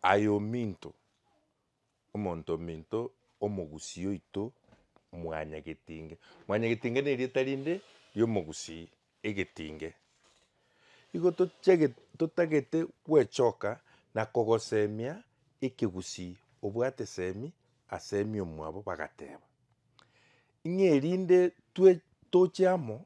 Aye ominto, omonto ominto omogusii oito mwanyagetinge. Mwanyagetinge nerieta rinde ri'omogusii, egetinge. Igo tochage totagete gwechoka na kogosemia ekegusii obwate semi asemi omwabo bagateba, Ing'erinde twe toche amo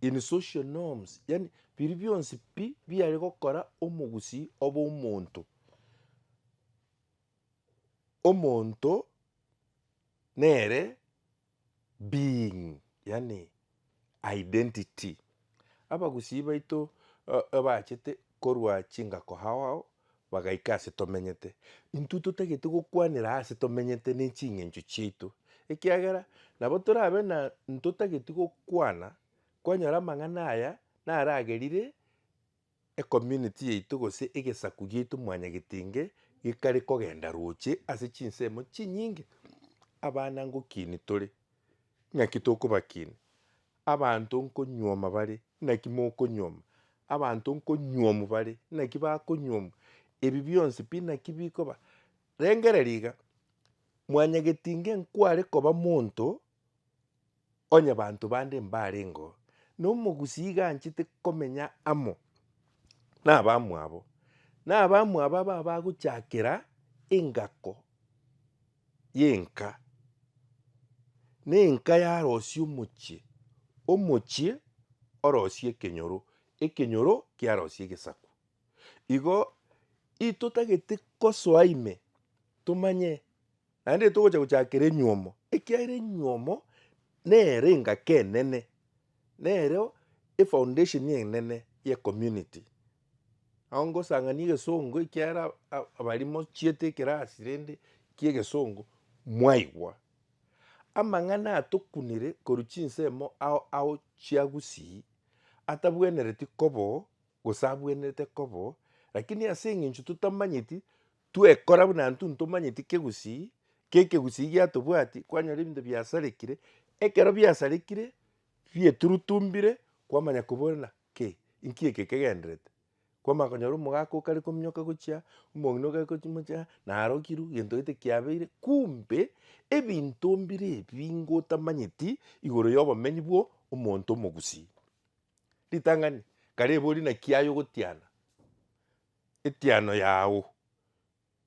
in social norms yani biri bionsi pi biare gokora omogusii obe omonto omonto nere being yani identity. Abagusii baito abachete korwa chingako ao ao Bagaika ase tomenyete. Intwe totagete gokwanera ase tomenyete ne ching'encho chiaito, ekiagera nabo torabe na ntotageti gokwana kwanyora amang'ana aya naragerire ecommunity yaito gose egesaku giaito Mwanya Getinge gekare kogenda roche ase chinsemo chinyinge abana ngokinia tore, ng'aki tokobakinia Abanto nkonyuoma bare, naki mokonyuoma? Abanto nkonyuomu bare, naki bakonyuomu? Ebi bionsi pi naki bikoba? Rengereria iga, Mwanyageti inge nkware koba monto onye banto bande mbarengeo, na omogusii iga anchete komenya amo nabamwabo, nabamwabo aba abagochakera engako. y'enka, na enka yarosia omochie, omochie orosie ekenyoro, ekenyoro kiarosie egesaku. Igo itotagete gosoa ime tomanye naende togocha gochakera enywomo, ekiagera enywomo nere engaki enene, nereo efoundation enene y'ecommunity. Nabo ngosang'ania egesongo ekiara abari mochiete ekerasi rende kia egesongo mwaigwa amang'ana atokunire korwa chinsemo ao ao chia Gusii atabwenereti kobo gose abwenerete kobo lakini ase eng'encho totamanyeti twekora buna intwe ntomanyeti kia Egusii kia Ekegusii giatobwati kwanyora ebinto biasarekire ekero biasarekire bieturutumbire kwamanya koboranera Ki, inki eke kegenderete? Kwamanya konyora omogaka okare kominyoka gochia, omong'ina okare gochi mochia, narokirwe, gento gete kiabeire, kumbe, ebinto mbire ebi ngotamanyeti igoro yobomenyi bwo omonto omogusii. Ritang'ani, kare ebe ori naki aye ogotiana, etiano yago.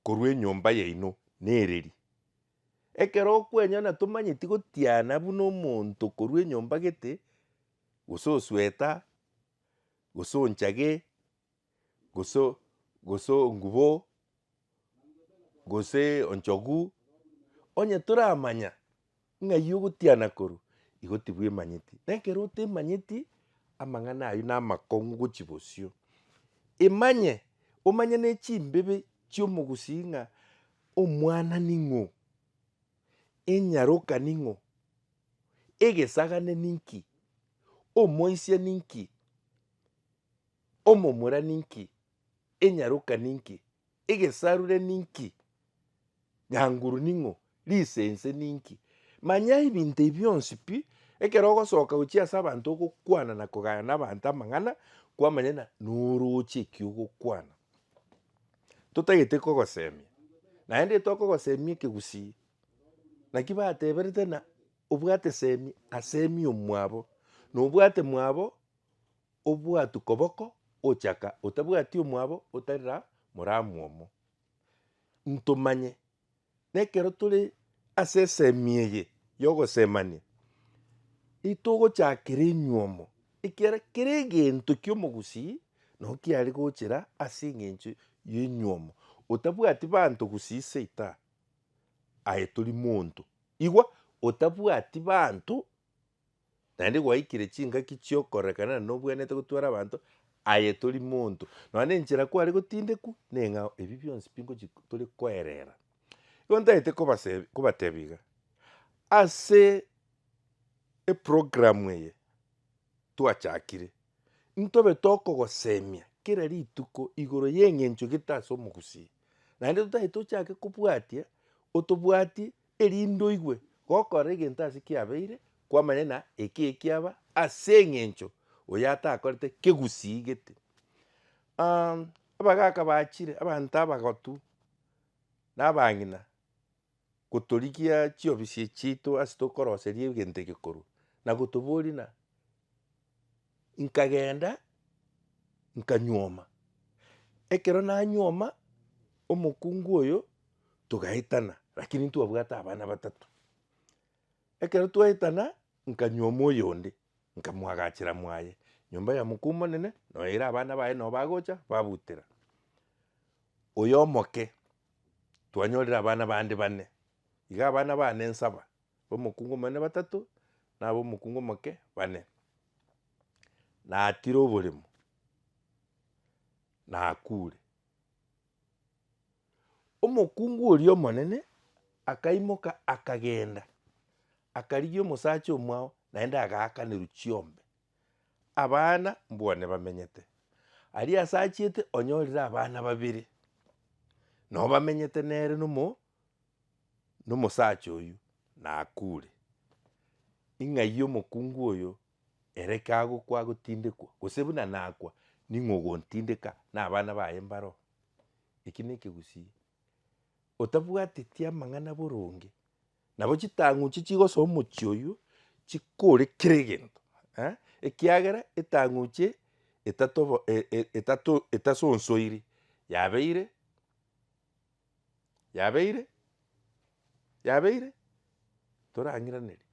Korwa enyomba yaino nereri. Ekero okwenyana tomanyeti gotiana buna omonto korwa enyomba gete, gose osweta, gose onchage, gose gose ongubo, gose onchogu, onye toramanya. Ng'ai ogotiana korwa igo tibwemanyeti? Na ekero otemanyeti amang'ana ayio namakong'u gochia bosio. Imanye, omanye ne chimbibe chi'omogusii ng'a omwana ning'o, enyaroka ning'o, egesagane ninki, omoisia ninki, omomura ninki. Enyaroka ninki? Egesarure ninki? Nyanguru ning'o? Risense ninki? Manya ebinto ebi bionsi pi, ekero ogosoka gochia ase abanto ogokwana na kogaya n'abanto amang'ana, kwamanya ng'a norooche eki ogokwana. Totagete kogosemia, naende tokogosemia ekegusii. Naki bateberete ng'a obwate semi asemi omwabo, na obwate mwabo. Obwatu koboko ochaka otabwati omwabo otari ra moramwomo. Ntomanye, nekero tore ase esemi eye yogosemania, itogochakera enywomo ekiara kera egento kiomogusii nao kiare gochera ase engencho yenywomo. Otabwati banto gusii seita aye tori monto. Igwa, otabwati banto. Naende gwaikire chingaki chi'okorekana nobwenerete gotwara abanto aye tori monto, nonya nenchera kware gotindekwa neng'a ebi bionsi pingochi tore koerera. Igo ntagete kobasebia kobatebia iga, ase eprogramu eye twachakire, ntobe tokogosemia kera rituko igoro y'eng'encho egete ase omogusii, naende totagete ochake kobwatia otobwatie erinde oigwe gokora egento ase kiabeire kwamanya na eke ekiaba ase eng'encho oyo atakorete kegusii gete. Aah abagaka bachire abanto abagotu na abang'ina gotorigia chiofisi echi chiaito ase tokoroseria egento eke korwa na gotoboria na Nkagenda nkanyuoma, ekero nanyuoma omokungu oyo togaetana lakini ntwabwate abana batato. Ekero twaetana nkanyuoma oyonde nkamwagachera mwaye nyomba ya mokuu monene noyoira abana baye noo bagocha babutera. Oyo omoke twanyorire abana bande bane, iga abana bane nsaba B'omokungu omonene batato, na ab'omokungu omoke bane. Natire oboremo, nakure. Omokungu oria omonene akaimoka akagenda, akarigia omosacha omwao naende agaakanerwa chiombe, abana mbwane bamenyete. Aria ase achiete onyorire abana babere, nabo bamenyete nere na Nomosacha oyio nakuure. Ing'ai omokungu oyo ere kagokwa agotindekwa, gose buna nakwa, ning'o ogontindeka na abana baye mbare oo? Eki nekegusii. Otabwateti amang'ana boronge, nabo chitang'uchi chigosoa omochie oyio chikore kera egento eh, ekiagera etang'uchi eye etatobo e- e- etato etasonsoiri yabeire. yabeire, yabeire, torang'iranerie,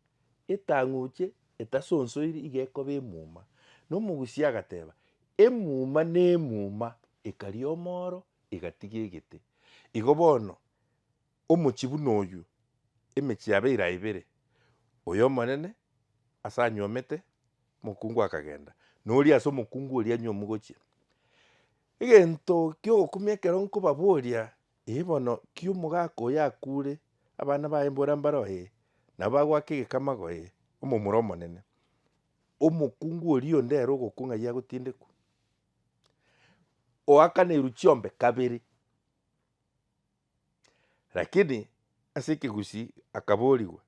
etang'uche etasonsoiri iga ekoba emuma, na omogusia agateba, emuma na emuma ekaria omoro egatiga egete. Igo bono, omochie buna oywo, emechie yabeire aye ibere, oyo omonene ase anyuomete, mokungu akagenda, na oria ase omokungu oria anyomogochia. Egento gi'ogokumia ekero nkobaboria, Ee bono, ki omogaka oyo akuure, abana baye mbora mbaro? Ee, nabo bagoaka egekamago, ee, omomura omonene. Omokungu oria onde ere ogokwa ng'ai agotindekwa? Oakaneirwe chiombe kabere. Lakini ase ekegusii akaborigwa,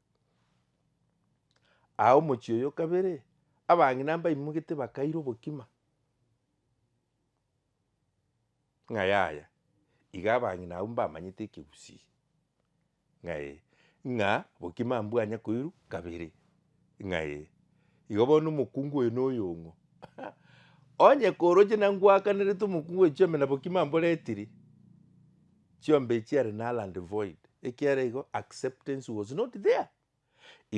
Aa omochie oyo kabere, abang'ina mbaimogete bakaira obokima. ng'a yaya, iga abang'ina abwo mbamanyete ekegusii, ng'a ee, ng'a bokima mbwanya koirwa kabere, ng'a ee. Igo bono omokungu oyo na oyong'o onye koroche na ngwakanerete omokungu oyo chiombe na bokima mboretiri, chiombe chiare null and void, ekiagera igo acceptance was not there.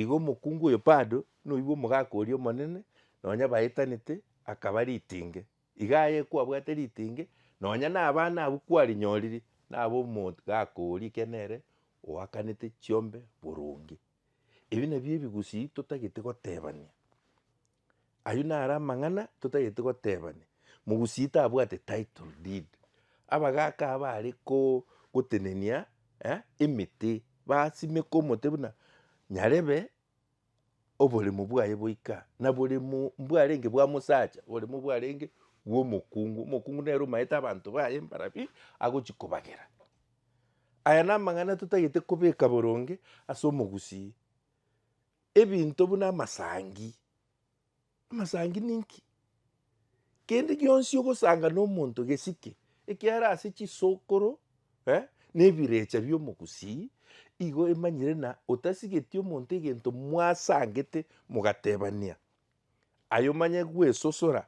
Igo omokungu oyo bado noigwe omogaka oria omonene, nonya baetanete, akaba ritenge. Iga aye kwabwate ritenge, nonya na abana abwo kwarinyoriri, nabo omogaka oria ekiagera nere oakanete chiombe boronge. Ebi nabio ebigusii totagete gotebania. Ayio naro amang'ana totagete gotebania. Mogusii tabwate title deed. Abagaka aba are koo gotenenia eh emete, basimeka omote buna nyarebe oboremo bwaye boika, na boremo mbwarenge bwa mosacha, oboremo bwarenge bwa omokungu. Omokungu nere omaete abanto baye mbarambe agochi kobagera. Aya namang'ana totagete kobeka boronge ase omogusii. ebinto buna amasangi. Amasangi ninki? Kende gionsi ogosanga na omonto gesike, ekiagera ase chisokoro eh, na ebirecha bi'omogusii, igo emanyire na otasigeti omonto egento mwasangete mogatebania, aye omanye gwesosora,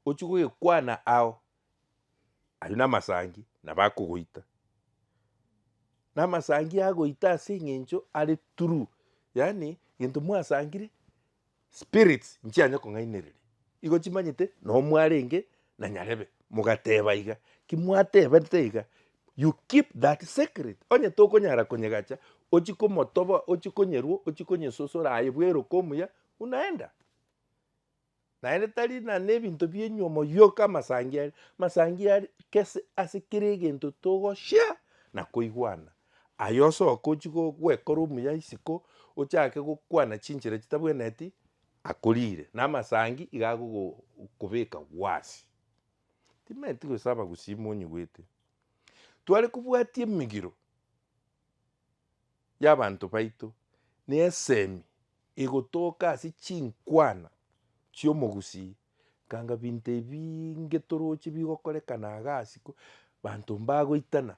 ochie gogekwana ao, ayio namasangi nabo akogoita. Namasangi agoita ase eng'encho are true, yaani gento mwasangire spirits nchianye kong'ainereria, igo chimanyete noo mwarenge na nyarebe, mogateba iga, ki mwatebete iga you keep that secret, onye tokonyara konyegacha ochie komotoboa, ochie konyerua, ochie konyesosora aye bweruka omuya unaenda. Naende tari na nebinto bienywe omoyioka amasangi aria, amasangi aria kese ase kera egento togoshea na koigwana. Aye osoke ochie gwekora omuya isiko ochake gokwana chinchera chitabwenereti akorire na amasangi iga agokobeka gwasi. Timaeti gosaba gusima onyigwete. Tware kobwatia emigiro y'abanto baito nesemi igotoka ase chinkwana chi'omogusii, kanga binto ebiinge toroche bigokorekana agasi ko banto mbagoitana.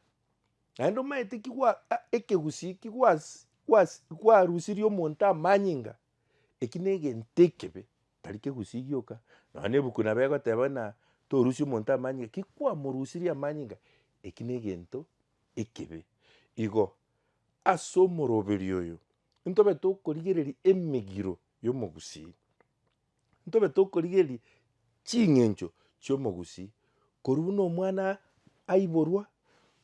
Naende omanyete ki gwa a- ekegusii ki gwasi gwasi gwarusirie omonto amanyinga, eki na egento ekebe, tari kegusii gioka, nonya na ebuku nabo egoteba buna torusie omonto amanyinga, ki kwamorusirie amanyinga, eki na egento. ekibe. Igo, ase omoroberio oyo, ntobe tokorigereria emegiro y'omogusii, ntobe tokorigereria ching'encho chi'omogusii, korwa buna omwana aiborwa,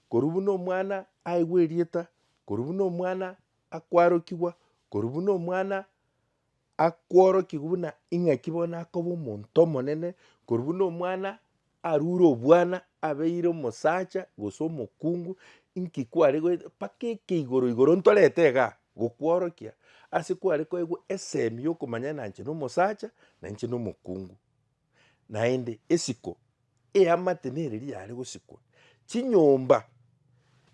korwa buna omwana aigwa erieta, korwa buna omwana akwarokigwa, korwa buna omwana. akworokiwe buna ing'aki bono akoba omonto omonene, korwa buna omwana arure obwana abeire omosacha gose omokungu, inki kware goeta mpaka ekeigoro igoro ntorete igaa gokworokia ase kware koegwa esemi yokomanya na inche na omosacha na inche na omokungu. Naende esiko eamate nereria yare gosikwa, chinyomba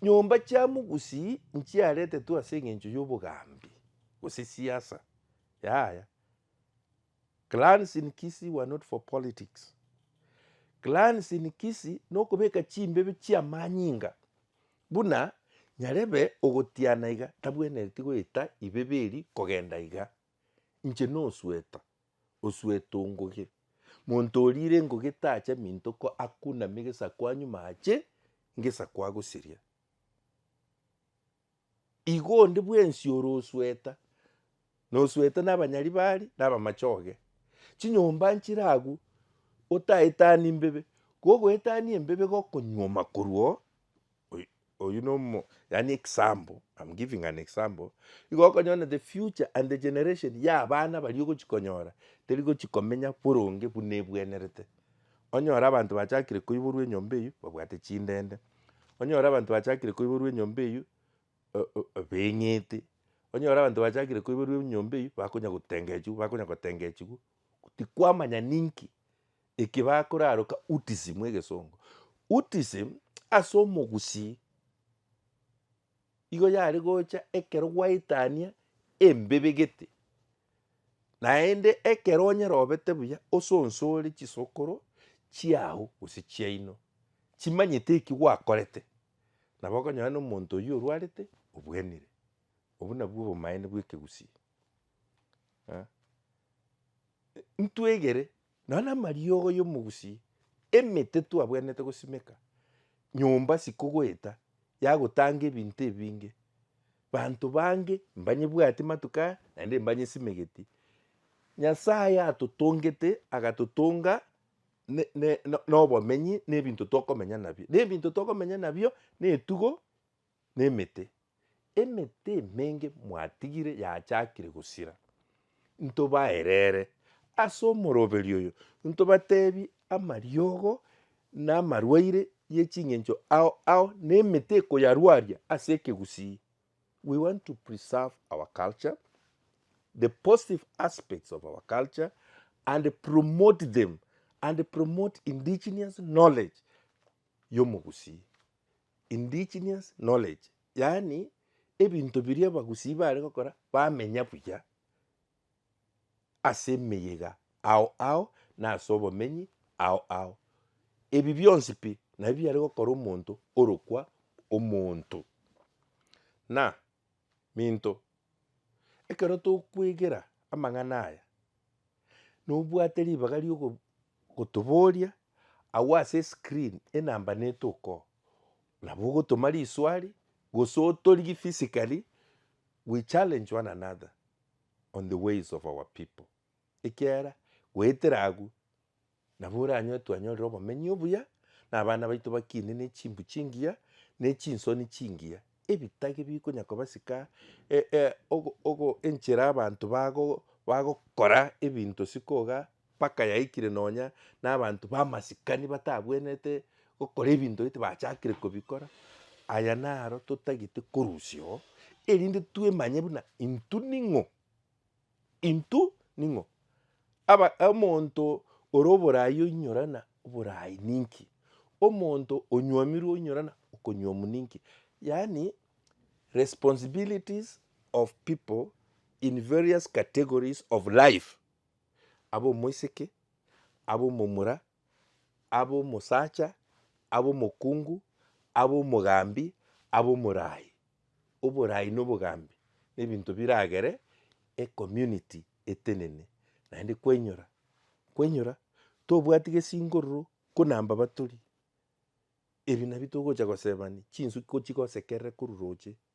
nyomba chia mogusii nchiaretetwe ase engencho y'obogambi, gose siasa. Yaya. Clans in Kisii were not for politics. Clans in Kisii nokobeka chimbebe chiamanyinga buna nyarebe ogotiana iga tabwenereti goeta ibebe eria kogenda iga. Inche nosueta. Osuete ongoge. Monto oriire engoge tacha minto ko akuname gesaku anyume ache ngesaku agosiria. Igo onde bwensi ore osueta, na osueta na abanyaribari na abamachoge. Chinyomba nchire agwo otaetani mbebe, kogoetania embebe gokonyuoma korwa oo Oy- oyio nomo yaani example, I'm giving an example, igo okonyona the future and the generation ya abana baria ogochi konyora, teri gochi komenya boronge buna ebwenerete. Onyore abanto bachakire koiborwa enyomba eyio babwate chindende, onyore abanto bachakire koiborwa enyomba eyio o- o- o beng'ete, onyore abanto bachakire koiborwa enyomba eyio bakonya gotengechiwa bakonya gotengechigwa, tikwamanya ninki Eki bakoraroka Utism mu egesongo. Utism ase omogusii igo yare gocha ekero gwaetania embebe gete. Naende ekero onye robete buya osonsore chisokoro chiago gose chiaino chimanyete eki gwakorete nabo okonyora na omonto oyio orwarete obwenire. Obwo nabwo obomaene bwa ekegusii. Ntwegere Nonya amariogo y'omogusi, emete twabwenerete gosimeka, nyomba sikogoeta yagotanga ebinto ebinge. Banto bange mbanyebwati matuko aya naende mbanyesimegeti. Nyasaye atotongete agatotonga nobomenyi na ebinto tokomenya nabio. Na ebinto tokomenya nabio netugo Nemete, emete emenge mwatigire yachakire gosira, ntobaerere ase omoroberio oyo, ntobatebie amariogo na amarwaire ye chingencho ao ao na emete ekoyarwaria ase ekegusii. We want to preserve our culture, the positive aspects of our culture and promote them and promote indigenous knowledge yomogusii. indigenous knowledge, yaani ebinto biria abagusii bare gokora bamenya buya ase emeyega ao ao na ase obomenyi ao ao. Ebi bionsi pi nabio biare gokora omonto orokwa omonto. Na. Minto, ekero tokwegera amang'ana aya, nobwate ribaga ri'ogotoboria agwo ase escreen enamba neto okoo, nabo ogotoma riswari gose otorigie physically, we challenge one another on the ways of our people, ekiagera goetera agwo. Nabo oranyoe twanyorire obomenyi obuya, na abana baito bakiine ne chimbu chingiya, ne chinsoni chingiya. Ebitage bikonya kobasika e, e, ogo, ogo, enchera abanto bago, bagokora ebinto sikoga mpaka yaikire nonya na abanto ba masikani batabwenete gokora ebinto gete bachakire kobikora. Aya naro totagete korusia oo, erinde twemanye buna intwe ning'o Intwe ning'o? Aba, omonto ore oboraai oinyorana oboraai ninki? Omonto onywamirwe oinyorana okonywamu ninki? Yaani responsibilities of people in various categories of life, abe omoiseke, abe omomura, abe omosacha, abe omokungu, abe omogambi, abe omorai. Oborai na obogambi na ebinto biragere ecommunity etenene, naende kwainyora, kwainyora tobwati gesingo roro kona mbaba tori, ebi nabio togocha gosebani chinsu ko chigosekerere korwa roche